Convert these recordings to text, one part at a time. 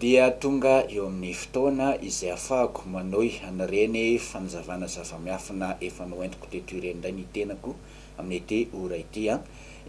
dia tonga eo amin'ny fotoana izay afahako manohy an'ireny fanazavana zava-miafina efa noentiko teto ireny indray ny tenako amin'ity ora ity an!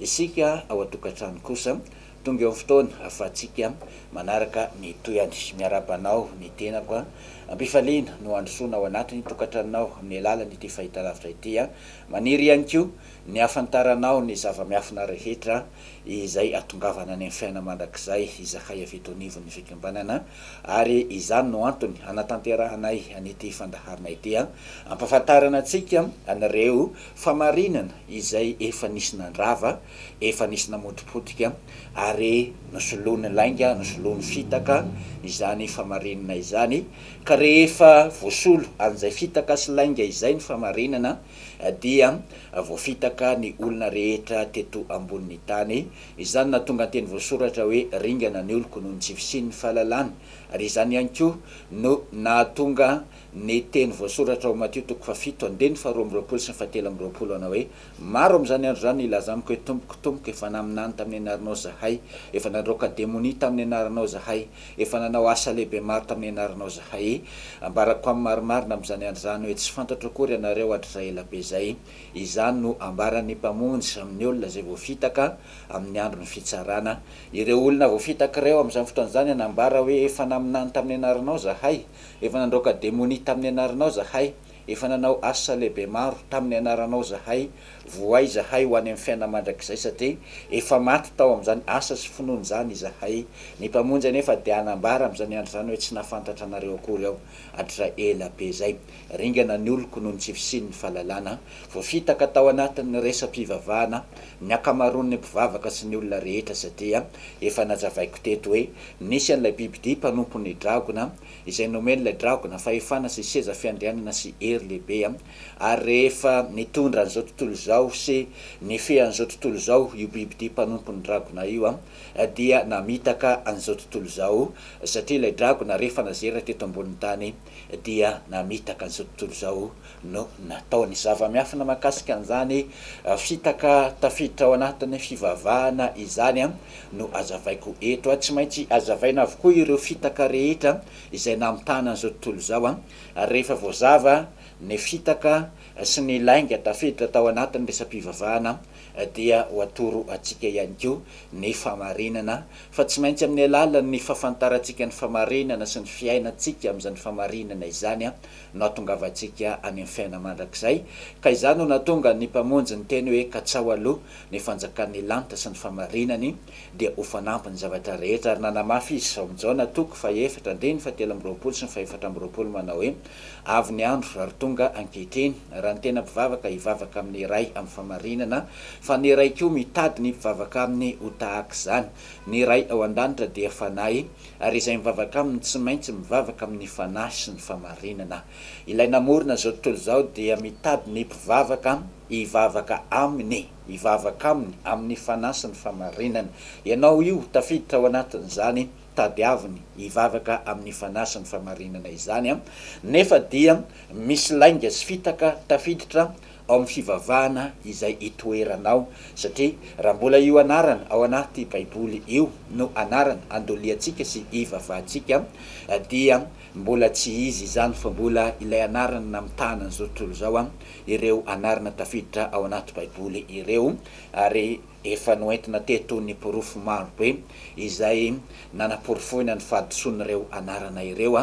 Isika ao an-tokantrano kosa Tonga eo fotoana ahafahantsika manaraka ny tohiny. Miarahaba anao ny tenako a! Am-pifaliana no handrosoana ao anatin'ny tokantranonao amin'ny alalan'ity fahitalavitra ity aho. Maniry ihany koa ny hahafantaranao ny zava-miafina rehetra izay hahatongavana any amin'ny fiainana mandrakizay izahay avy eto anivon'ny Fikambanana ary izany no antony hanatanterahanay an'ity fandaharana ity hampahafantarana antsika an'ireo famarinana izay efa nisy nandrava Efa nisy namotipotika ary nosoloiny lainga, nosoloiny fitaka izany famarinana izany, ka rehefa voasolo an'izay fitaka sy lainga izay ny famarinana dia voafitaka ny olona rehetra teto ambonin'ny tany. Izany nahatonga ny teny voasoratra hoe ringana ny oloko noho ny tsy fisian'ny fahalalana, ary izany ihany koa no nahatonga ny teny voasoratra ao Matio toko fahafito andininy faharoa amby roapolo sy ny fahatelo amby roapolo hanao hoe, Maro amin'izany andro izany hilaza amiko hoe, Tompoko, Tompoko, efa naminany tamin'ny anaranao izahay, efa nandroaka demonia tamin'ny anaranao izahay, efa nanao asa lehibe maro tamin'ny anaranao izahay. Ambarako amin'ny marimarina amin'izany andro izany hoe, Tsy fantatro akory ianareo hatrizay ela be izay. Izany no hambaran'ny Mpamonjy amin'ny olona izay voafitaka amin'ny andron'ny fitsarana. Ireo olona voafitaka ireo amin'izany fotoana izany hanambara hoe, Efa naminany tamin'ny anaranao izahay, efa nandroaka demonia tamin'ny anaranao izahay, Efa nanao asa lehibe maro tamin'ny anaranao izahay, vohay izahay ho any amin'ny fiainana mandrakizay satria efa maty tao amin'izany asa sy finoana izany izahay. Ny Mpamonjy anefa dia hanambara amin'izany andro izany hoe tsy nahafantatra anareo akory aho hatrizay ela be izay. Ringana ny oloko noho ny tsy fisian'ny fahalalana. Voafitaka tao anatin'ny resa-pivavahana ny ankamaroan'ny mpivavaka sy ny olona rehetra satria efa nazavaiko teto hoe nisy an'ilay bibidia mpanompon'ny dragona, izay nomen'ilay dragona fahefana sy seza fiandrianana sy hery lehibe, ary rehefa nitondra an'izao tontolo izao sy nifehy an'izao tontolo izao io biby ity mpanompon'ny dragona io, dia namitaka an'izao tontolo izao, satria ilay dragona rehefa nazera teto ambonin'ny tany dia namitaka an'izao tontolo izao no nataony. Zava-miafina mahakasika an'izany fitaka tafiditra ao anatin'ny fivavahana izany no azavaiko eto. Tsy maintsy hazavaina avokoa ireo fitaka rehetra izay namitahana an'izao tontolo izao, ary rehefa voazava ny fitaka sy ny lainga tafiditra tao anatin'ny resa-pivavahana dia ho atoro antsika ihany koa ny fahamarinana, fa tsy maintsy amin'ny alalan'ny fahafantarantsika ny fahamarinana sy ny fiainantsika amin'izany fahamarinana izany nahatongavantsika any amin'ny fiainana mandrakizay, ka izany no nahatonga ny Mpamonjy niteny hoe, Katsaho aloha ny fanjakan'ny lanitra sy ny famarinany, dia ho fanampiny ny zavatra rehetra. Ary nanamafy Izy izao amin'i Jaona toko fahaefatra andininy fahatelo amby roapolo sy ny fahefatra amby roapolo manao hoe, Avy ny andro ary tonga ankehitriny, raha ny tena mpivavaka hivavaka amin'ny iray amin'ny famarinana, fa ny iray koa mitady ny mpivavaka aminy ho tahaka izany. Ny Ray ao an-danitra dia Fanahy. Ary izay mivavaka aminy tsy maintsy mivavaka amin'ny fanahy sy ny famarinana. Ilay namorona izao tontolo izao dia mitady ny mpivavaka hivavaka aminy, hivavaka aminy amin'ny fanahy sy ny famarinana. Ianao io, tafiditra ao anatin'izany tadiaviny hivavaka amin'ny fanahy sy ny famarinana izany, nefa dia misy lainga sy fitaka tafiditra ao amin'ny fivavahana izay itoeranao, satria raha mbola io anarana ao anaty Baiboly io no anarana andoliantsika sy ivavahantsika, dia mbola tsy izy izany fa mbola ilay anarana namitahana an'izao tontolo izao, ireo anarana tafiditra ao anaty Baiboly ireo, ary efa noentina teto ny porofo maro be izay nanaporofoina ny fahadisoan'ireo anarana ireo,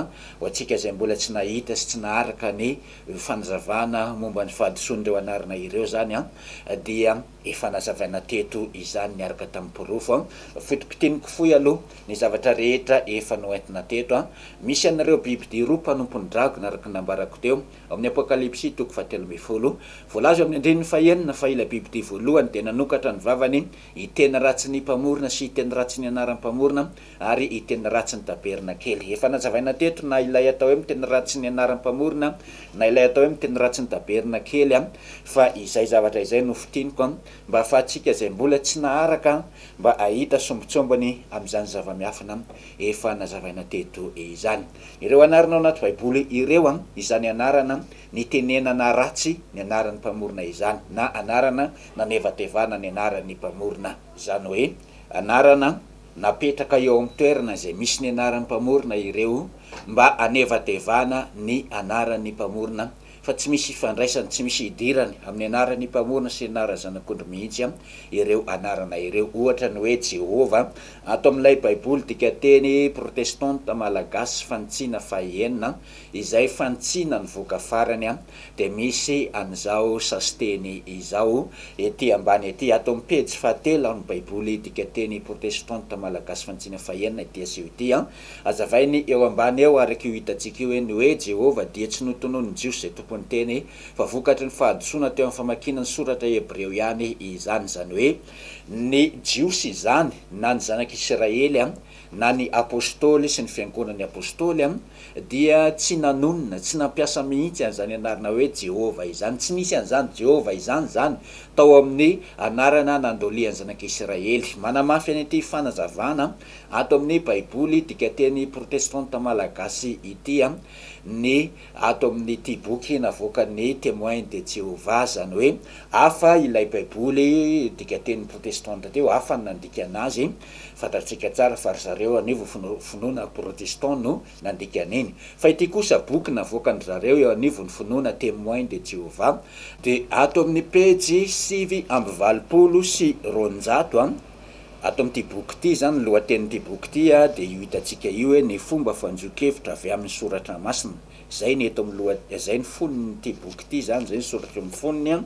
ho antsika izay mbola tsy nahita sy tsy naharaka ny Io fanazavana momba ny fahadisoan'ireo anarana ireo izany dia efa nazavaina teto izany niaraka tamin'ny porofo. Foto-pitiniko fohy aloha ny zavatra rehetra efa noentina teto. Misy an'ireo bibidia roa mpanompon'ny dragona araka ny nambarako teo ao amin'ny Apokalypsy toko fahatelo ambin'ny folo. Voalaza eo amin'ny andininy fahenina fa ilay bibidia voalohany dia nanokatra ny vavany hiteny ratsin'ny Mpamorona sy hiteny ratsin'ny anaran'ny Mpamorona ary i Teny Ratsy ny Tabernakely. Efa nazavaina teto na ilay atao hoe miteny ratsy ny anaran'ny Mpamorona na ilay atao hoe miteny ratsy ny Tabernakely fa izay zavatra izay no fintiniko mba hahafahantsika izay mbola tsy naharaka mba hahita sombintsombiny amin'izany zava-miafina efa nazavaina teto izany. Ireo anarana ao anaty Baiboly ireo, izany anarana nitenenana ratsy ny anaran'ny Mpamorona izany na anarana nanevatevana ny anaran'ny Mpamorona, izany hoe anarana. Napetraka eo amin'ny toerana izay misy ny anaran'ny mpamorona ireo mba hanevadevana ny anaran'ny mpamorona fa tsy misy ifandraisany, tsy misy idirany amin'ny anaran'ny mpamorona sy ny anaran'ny Zanak'ondry mihitsy ireo anarana ireo. Ohatra ny hoe Jehovah ato amin'ilay Baiboly dikanteny protestanta malagasy, Fanintsiana fahenina, izay fanintsiana nivoaka farany dia misy an'izao sasiteny izao ety ambany ety, ato amin'ny pejy fahatelo amin'ny Baiboly Dikan-teny Protestanta Malagasy Fantsina fahenina ity asio ity. Hazavainy eo ambany eo, araka io hitantsika io, ny hoe Jehovah dia tsy notononin'ny Jiosy izay tompon'ny teny, fa vokatry ny fahadisoana teo amin'ny famakiana ny Soratra Hebreo ihany izany, izany hoe ny Jiosy izany na ny zanak'Isiraely na ny Apôstôly sy ny Fiangonan'ny Apôstôly, dia tsy nanonona, tsy nampiasa mihitsy an'izany anarana hoe Jehovah izany. Tsy nisy an'izany Jehovah izany izany tao amin'ny anarana nandolian'ny Zanak'Isiraely. Manamafy an'ity fanazavana ato amin'ny Baiboly dikan-teny protestanta malagasy ity ny ato amin'ity boky navoakan'ny Témoins de Jéhovah, izany hoe hafa ilay Baiboly dikan-teny protestanta teo, hafa ny nandikana azy. Fantatsika tsara fa ry zareo anivo finoana protestant no nandika an'iny. Fa ity kosa boky navoakan-dry zareo eo anivon'ny finoana Témoins de Jéhovah, dia ato amin'ny pejy sivy amby valopolo sy roanjato a, ato amin'ity boky ity izany, ny lohatenin'ity boky ity dia io hitantsika io hoe Ny fomba fanjohinkevitra avy amin'ny Soratra Masina. Zay ny eto am loha zay ny fonon ity boky ity zany zay ny soratro am fonony an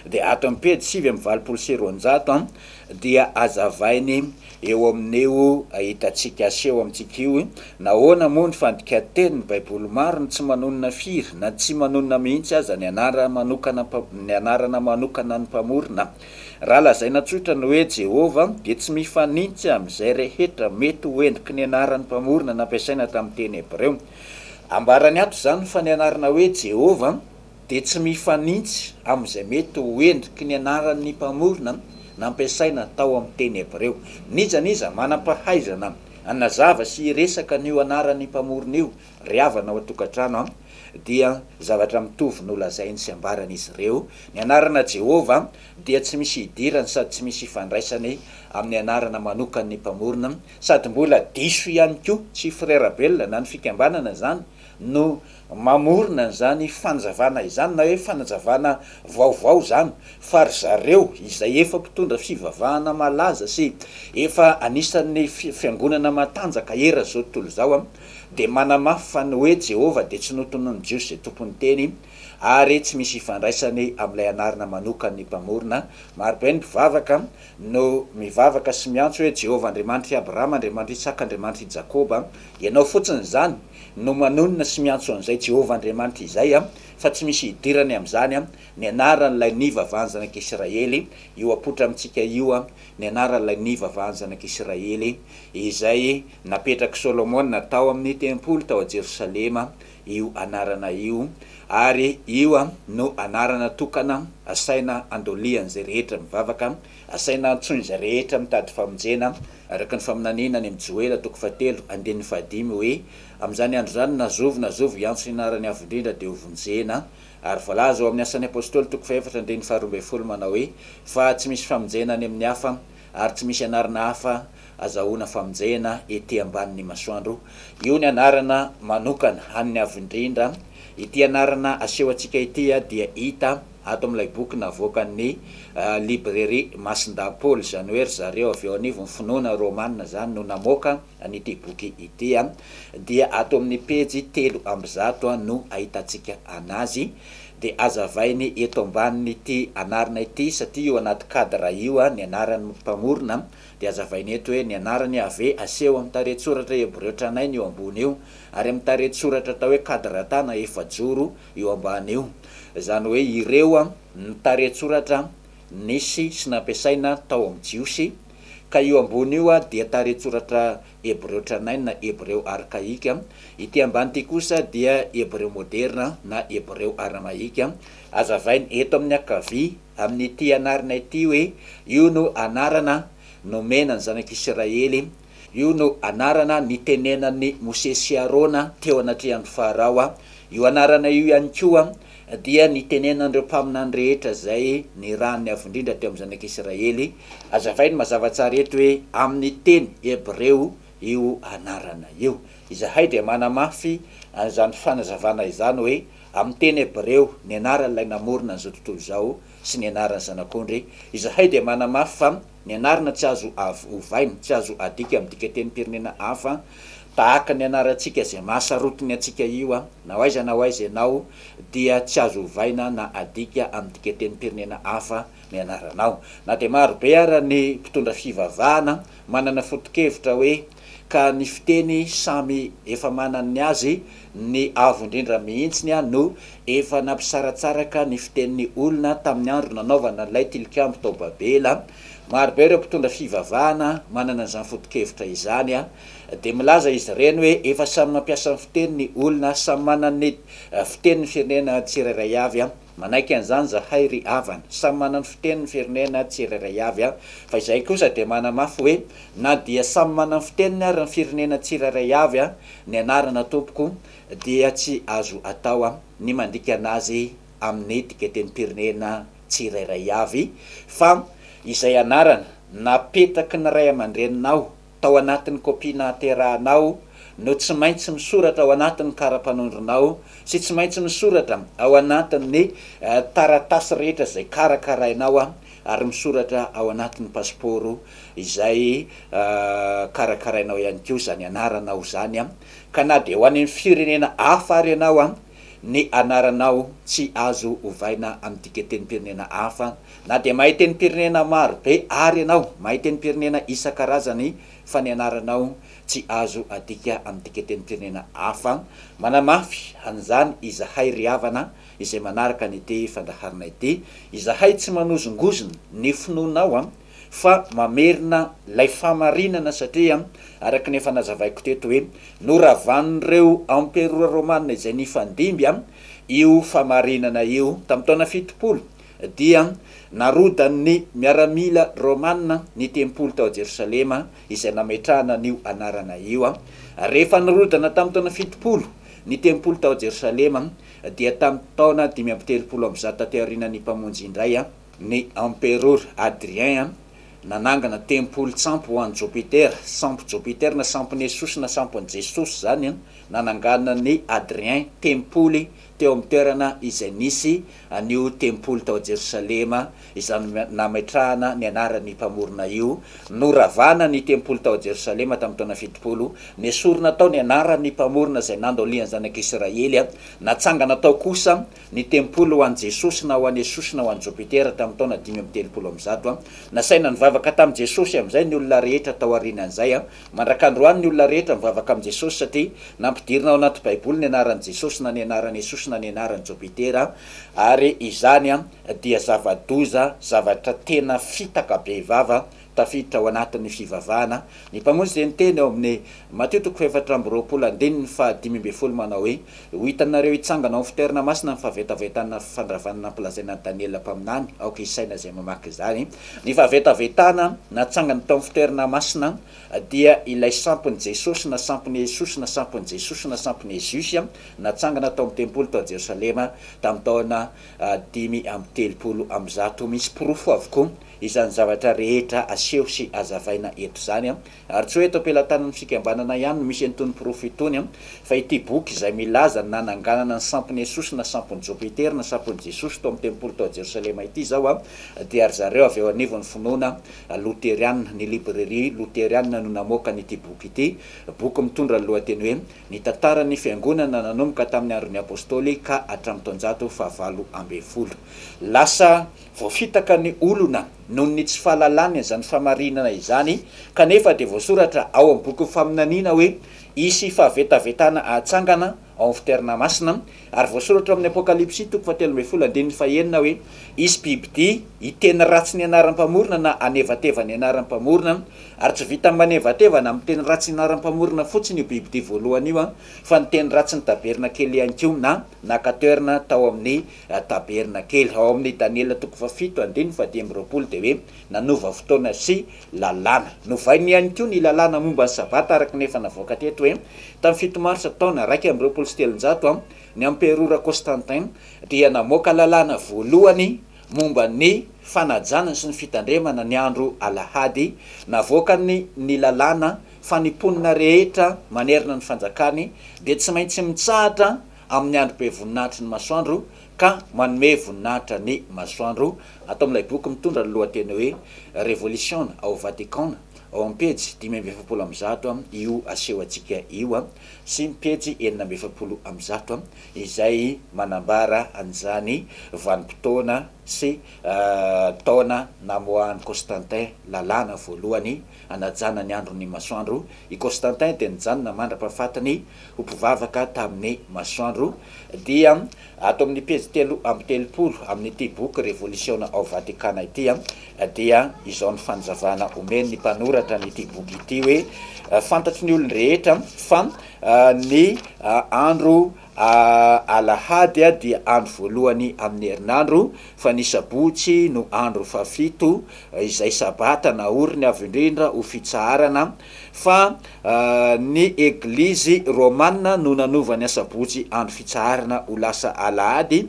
dia ato am pejy sivy amby valopolo sy roanjato an dia azavainy eo amin io ahitantsika aseho amintsika io hoe nahoana moa ny fandikan-teny ny baiboly maro no tsy manonona firy na tsy manonona mihitsy aza ny anara manokana ny anarana manokana ny mpamorona raha lazaina tsotra ny hoe jehovah dia tsy mifanintsy amin izay rehetra mety ho endriky ny anaran ny mpamorona nampiasaina tamin teny hebreo Ambarany ato izany fa ny anarana hoe Jehovah dia tsy mifanintsy amin'izay mety ho endriky ny anaran'ny Mpamorona nampiasaina tao amin'ny teny hebreo. N'iza n'iza manam-pahaizana hanazava sy hiresaka an'io anaran'ny Mpamorona io ry havana ao an-tokantrano, dia zavatra mitovy no lazainy sy ambaran'izy ireo, Ny anarana Jehovah dia tsy misy idirany sady tsy misy ifandraisany amin'ny anarana manokan'ny Mpamorona, Sady mbola diso ihany koa tsy Frera Belona na ny fikambanana izany no mamorona an'izany fanazavana izany na hoe fanazavana vaovao izany fa ry zareo izay efa mpitondra fivavahana malaza sy efa anisan'ny fiangonana matanjaka eran' izao tontolo izao dia manamafy fa ny hoe Jehovah dia tsy notononin'ny Jiosy izay tompon'ny teny ary tsy misy ifandraisany amin'ilay anarana manokan'ny mpamorona. Marobe ny mpivavaka no mivavaka sy miantso hoe, Jehovah Andriamanitr'i Abrahama, Andriamanitr'i Isaka, Andriamanitr'i Jakoba, ianao fotsiny izany no manonona sy miantso an'izay Jehovah Andriamanitra izay, fa tsy misy hidirany amin'izany ny anaran'ilay nivavahan'ny zanak'Israely, io apoitra amintsika io ny anaran'ilay nivavahan'ny zanak'Israely, izay napetrak'i Solomona tao amin'ny tempoly tao Jerosalema, io anarana io ary io no anarana tokana asaina andolian'izay rehetra mivavaka, asaina antsoin'izay rehetra mitady famonjena, araka ny faminaniana any amin'ny Joela toko fahatelo andininy fahadimy hoe, Amin'izany andro izany na zovy na zovy hiantso ny anaran'ny Avo Indrindra dia hovonjena. Ary voalaza ao amin'ny Asan'ny Apostoly toko fahefatra andininy faharoa ambin'ny folo manao hoe, Fa tsy misy famonjena any amin'ny hafa Ary tsy misy anarana hafa azahoana famonjena ety ambanin'ny masoandro. Io ny anarana manokana an'ny Avo Indrindra. Ity anarana aseho antsika ity dia hita ato amin'ilay boky navoakan'ny Librairie Masindahy Paoly, izany hoe ry zareo avy ao anivon'ny finoana Romana izany no namoaka. An'ity boky ity dia ato amin'ny pejy telo amby zato no ahitantsika an'azy. Dia hazavainy eto ambanin'ity anarana ity satria io anaty cadre io ny anaran'ny mpamorona dia hazavainy eto hoe ny anarany AV aseho amin'ny tarehin-tsoratra hebreo tranainy io ambony io ary amin'ny tarehin-tsoratra atao hoe kadratana efajoro io ambany io. Izany hoe ireo ny tarehin-tsoratra nisy sy nampiasaina tao amin'ny Jiosy Ka io ambony io dia tarehin-tsoratra hebreo tranainy, hebreo arkaika. Ity ambany ity kosa dia hebreo moderina na hebreo aramaika. Hazavainy eto amin'ny ankavia amin'ity anarana ity hoe io no anarana nomena ny zanak'Isiraely, io no anarana nitenenan'i Mosesy sy Arona teo anatrehan'i Farao. Io anarana io ihany koa Dia nitenenan'ireo mpaminany rehetra izay nirahan'ny Avo Indrindra teo amin'ny Zanak'Isiraely, Azavainy mazava tsara eto hoe amin'ny teny hebreo io anarana io. Izahay dia manamafy an'izany fanazavana izany hoe amin'ny teny hebreo ny anaran'ilay namorona an'izao tontolo izao sy ny anaran'ny Zanak'ondry. Izahay dia manamafy fa Ny anarana tsy azo avy ovaina, tsy azo adika amin'ny dikatenim-pirenena hafa tahaka ny anarantsika izay mahasarotiny antsika io a! Na ho aiza na ho aiza ianao dia tsy azo ovaina na adika amin'ny dikatenim-pirenena hafa ny anaranao. Na dia maro be ara ny mpitondra fivavahana manana foto-kevitra hoe. ka ny fiteny samy efa manany ny azy, ny avo indrindra mihitsiny no efa nampisaratsaraka ny fitenin'ny olona tamin'ny andro nanaovana an'ilay tilikambo tao Babela. Marobe ireo mpitondra fivavahana manana izany foto-kevitra izany, dia milaza izy ireny hoe efa samy mampiasa ny fiteny ny olona, samy manana ny fitenin'ny firenena tsirairay avy. Manaiky an'izany zahay ry havana. Samy manana ny fiteny ny firenena tsirairay avy an! Fa izahay kosa dia manamafy hoe na dia samy manana ny fiteniny ary ny firenena tsirairay avy an! ny anarana tompoko dia tsy azo atao an! ny mandika an'azy amin'ny dikatenim-pirenena tsirairay avy fa izay anarana napetraky ny ray aman-dreninao tao anatin'ny kopia nahaterahanao no tsy maintsy misoratra ao anatin'ny kara-panondronao sy tsy maintsy misoratra ao anatin'ny taratasy rehetra izay karakarainao ary misoratra ao anatin'ny pasipaoro izay karakarainao ihany koa izany anaranao izany ka na dia ho any amin'ny firenena hafa ary ianao, ny anaranao tsy azo ovaina amin'ny dikatenim-pirenena hafa Na dia mahay tenim-pirenena maro be àry ianao, mahay tenim-pirenena isan-karazany fa ny anaranao tsy azo adika amin'ny dikan-tenim-pirenena hafa, manamafy an'izany izahay ry havana izay manaraka an'ity fandaharana ity, izahay tsy manozongozona ny finoanao fa mamerina ilay fahamarinana satria araka ny efa nazavaiko teto hoe noravan'ireo emperora romana izay nifandimby io fahamarinana io tamin'ny taona fitopolo dia narodan'ny miaramila romana ny tempoly tao Jerosalema izay nametrahana an'io anarana io. Rehefa nirodana tamin'ny taona fitopolo ny tempoly tao Jerosalema dia tamin'ny taona dimy amby telopolo amby zato taty aorianan'ny Mpamonjy indray ny Emperora Adrien nanangana tempoly tsampy ho an'i Jopitera, sampy Jopitera na sampon'i Jesosy na sampon'i Jesosy izany nananganan'i Adrien tempoly teo amin'ny toerana izay nisy an'io tempoly tao Jerosalema, izany nametrahana ny anaran'ny Mpamorona io. Noravana ny tempoly tao Jerosalema tamin'ny taona fitopolo. Nesorina tao ny anaran'ny Mpamorona izay nandaolian'ny zanak'Israely. Natsangana tao kosa ny tempoly ho an'i Jesosy na ho an'i Jesosy na ho an'i Jopitera tamin'ny taona dimy amby telopolo amby zato. Nasaina nivavaka tamin'i Jesosy amin'izay ny olona rehetra taorian'izay. Mandrak'androany ny olona rehetra mivavaka amin'i Jesosy satria nampidirina ao anaty baiboly ny anaran'i Jesosy na ny anaran'i Jesosy na ny anaran'i Jopitera ary izany dia zava-doza, zavatra tena fitaka bevava tafiditra ao anatin'ny fivavahana. Ny Mpamonjy dia niteny ao amin'ny Matio toko fahefatra amby roapolo andininy fahadimy ambin'ny folo manao hoe, Ho hitanareo hitsangana ao fitoerana masina ny fahavetavetana fandravana nampilazaina an'i Daniela mpaminany, aoka hisaina izay mamaky izany. Ny fahavetavetana natsangany tao amin'ny fitoerana masina dia ilay sampon'i Jesosy na sampon'i Hesusy na sampon'i Jesosy na sampon'i Hesusy natsangana tao amin'ny tempoly tao Jerosalema tamin'ny taona dimy amby telopolo amby zato. Misy porofo avokoa izany zavatra rehetra aseho sy azavaina eto izany. Ary tsy hoe eto am-pelatanan'ny fikambanana ihany no misy an'itony porofo itony, fa ity boky izay milaza ny nananganana ny sampon'i Jesosy na sampon'i Jopiter na sampon'i Jesosy tao amin'ny tempoly tao Jerosalema ity izao dia ry zareo avy ao anivon'ny finoana loterianina, ny librairie loterianina no namoaka an'ity boky ity, boky mitondra ny lohateny hoe Ny tantaran'ny fiangonana nanomboka tamin'ny andron'ny apostoly ka hatramin'ny taonjato fahavalo ambin'ny folo. Lasa voafitaka ny olona. noho ny tsy fahalalany an'izany famarinana izany, kanefa dia voasoratra ao amin'ny bokin'ny faminaniana hoe hisy fahavetavetana hatsangana ao amin'ny fitoerana masina, ary voasoratra ao amin'ny Apokalypsy toko fahatelo ambin'ny folo andininy fahenina hoe hisy bibidia hiteny ratsy ny anaran'ny Mpamorona na hanevateva ny anaran'ny Mpamorona, ary tsy vitan'ny manevateva na miteny ratsy ny anaran'ny Mpamorona fotsiny io bibidia voalohany io fa niteny ratsy ny tabernakely ihany koa na naka toerana tao amin'ny Raha taberina kely ao amin'ny Daniela toko fahafito andininy fahadimy amby roapolo dia hoe, nanova fotoana sy lalàna. Novainy ihany koa ny lalàna momba ny Sabata araka ny efa navoaka teto hoe, tamin'ny fito marsa taona iraika amby roapolo sy telonjato, ny emperora Constantin dia namoaka lalàna voalohany momba ny fanajana sy ny fitandremana ny andro alahady, navoakany ny lalàna fa ny mponina rehetra manerana ny fanjakany dia tsy maintsy mitsahatra amin'ny andro be voninahitry ny masoandro ka manome voninahitra ny masoandro, ato amin'ilay boky mitondra ny lohateny hoe Revolisiona ao Vatikana, ao amin'ny pejy dimy amby efapolo amby zato io aseho antsika io sy ny pejy enina amby efapolo amby zato izay manambara an'izany vanim-potoana sy taona namoahan'i Constantin lalàna voalohany Hanajana ny andron'ny masoandro i Constantin dia nijanona mandra-pahafatiny ho mpivavaka tamin'ny masoandro, dia ato amin'ny pejy telo amby telopolo amin'ity boky Revolisiona ao Vatikana ity dia izao ny fanazavana omen'ny mpanoratra an'ity boky ity hoe, Fantatry ny olon-drehetra fa ny andro. Alahady dia andro voalohany amin'ny herinandro, fa ny sabotsy no andro fahafito, izay sabata naoriny avo indrindra ho fitsaharana, fa ny Eglizy Romana no nanova ny asabotsy andro fitsaharana ho lasa alahady.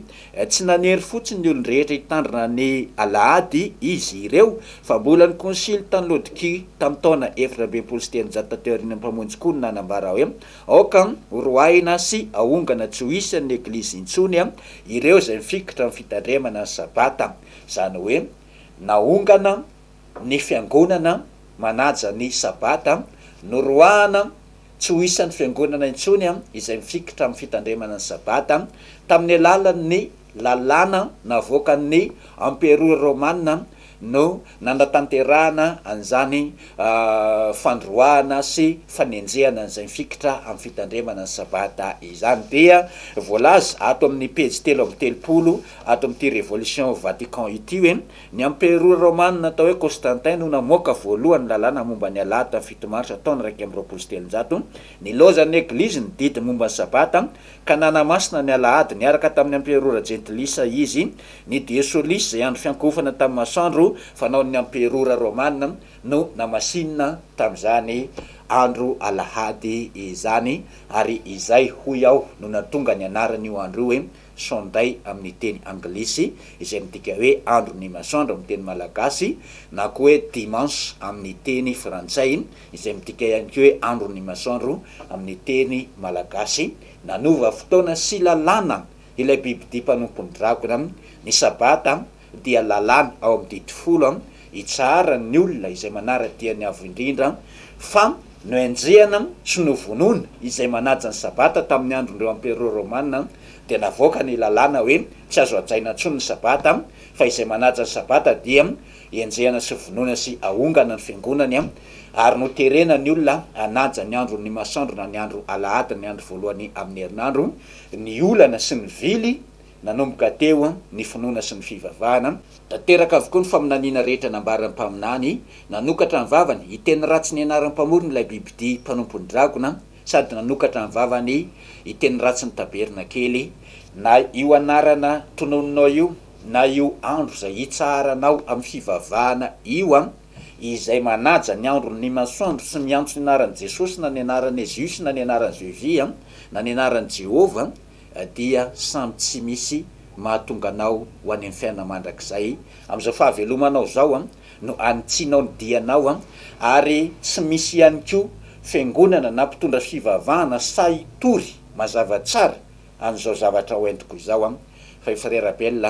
Tsy nanery fotsiny ny olon-drehetra hitandrina ny alahady izy ireo, fa mbola ny Konsily tany Laodikia tamin'ny taona efatra amby enimpolo sy telonjato taty aorian'ny Mpamonjy koa no nanambara hoe, Aoka horoahina sy ahongana tsy ho isan'ny Eglizy intsony ireo izay mifikitra amin'ny fitandremana ny Sabata, izany hoe nahongana ny Fiangonana manaja ny Sabata, noroahana tsy ho isan'ny Fiangonana intsony izay mifikitra amin'ny fitandremana ny Sabata, tamin'ny alalan'ny Lalàna navoakan'ny Emperora Romana no nanatanterahana an'izany fandroahana sy fanenjehana an'izay mifikitra amin'ny fitandremana ny Sabata izany dia voalaza ato amin'ny pejy telo amby telopolo ato amin'ity Révolution Vatican ity hoe, Ny Emperora Romana atao hoe Constantin no namoaka voalohany ny lalàna momba ny Alahady tamin'ny fito Marsa taona iraika amby roapolo sy telonjato. Nilaozan'ny Eglizy ny didy momba ny Sabata ka nanamasina ny Alahady niaraka tamin'ny Amperora Jentilisa izy, ny Dies Solis izay andro fiankohofana tamin'ny masoandro fanaon'ny Amperora Romana no namasinina tamin'izany andro Alahady izany, ary izay hoy aho no nahatonga ny anaran'io andro io hoe Sunday amin'ny teny anglisy izay midika hoe andron'ny masoandro amin'ny teny malagasy na koa hoe Dimanche amin'ny teny frantsay. izay midika ihany koa hoe andron'ny masoandro amin'ny teny malagasy, nanova fotoana sy lalàna ilay bibidia mpanompon'ny dragona, ny sabata dia lalàna ao amin'ny didy folo hitsaharan'ny olona izay manara-dia ny Avo Indrindra, fa nohenjehana sy novonoina izay manaja ny sabata tamin'ny andron'ireo amperôa rômana, dia navoaka ny lalàna hoe tsy azo hajaina intsony ny sabata, fa izay manaja ny sabata dia. Enjehana sy vonoina sy ahongana ny fiangonany ary noterena ny olona hanaja ny andro ny masoandro na ny andro alahady ny andro voalohany amin'ny herinandro ny olana sy ny vily nanomboka teo ny finoana sy ny fivavahana tanteraka avokoa ny faminaniana rehetra nambaran'ny mpaminany nanokatra ny vavany hiteny ratsy ny anaran'ny mpamorona ilay bibidia mpanompony dragona sady nanokatra ny vavany hiteny ratsy ny tabernakely na io anarana tononinao io. na io andro izay hitsaharanao amin'ny fivavahana io an, izay manaja ny andron' ny masoandro sy miantso ny anaran'i Jesosy na ny anaran'i Eziosy na ny anaran'i Zeusy an, na ny anaran'i Jehovah an, dia samy tsy misy mahatonga anao ho any amin'ny fiainana mandrakizay, amin'izao fahavelomanao izao an, no anitsianao ny dianao an, ary tsy misy ihany koa fiangonana na mpitondra fivavahana sahy hitory mazava tsara an'izao zavatra ho entiko izao an, fa i Frere Abel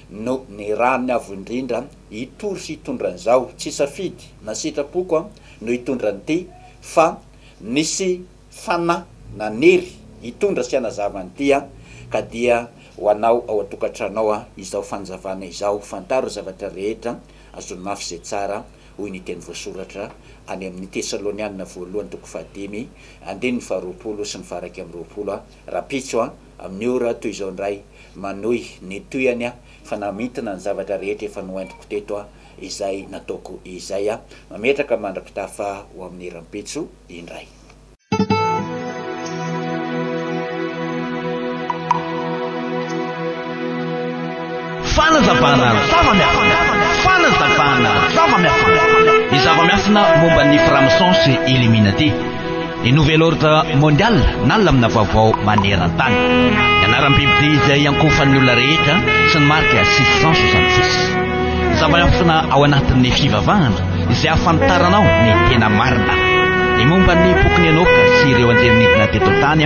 no nirahany avo indrindra hitory sy hitondra an'izao, tsy safidy na sitrapoko no hitondra an'ity fa nisy fanahy nanery hitondra sy hanazava an'ity an, ka dia ho anao ao an-tokantranao izao fanazavana izao, fantaro zavatra rehetra, azony mafy izay tsara, hoy ny teny voasoratra any amin'ny Tesalonianina voalohany toko fahadimy, andininy faharoapolo sy ny faha iraika amby roapolo. Rahampitso a! Amin'ny ora toy izao indray, manohy ny tohihany aho, fa namintina ny zavatra rehetra efa noentiko teto aho, izay nataoko izay aho. Mametraka mandra-pitafa ho amin'ny rahampitso indray. Fanazavana zava-miafina! Fanazavana zava-miafina! Ny zava-miafina momba ny Franc-maçon sy Illuminati. Ny Nouvel Ordre Mondial na lamina vaovao maneran-tany. Ny anaram-bibidia izay iankohofan'ny olona rehetra sy ny marika 666. Ny zava-miafina ao anatin'ny fivavahana izay ahafantaranao ny tena marina. Ny momba ny bokin'i Enoka sy ireo anjely nidina teto an-tany.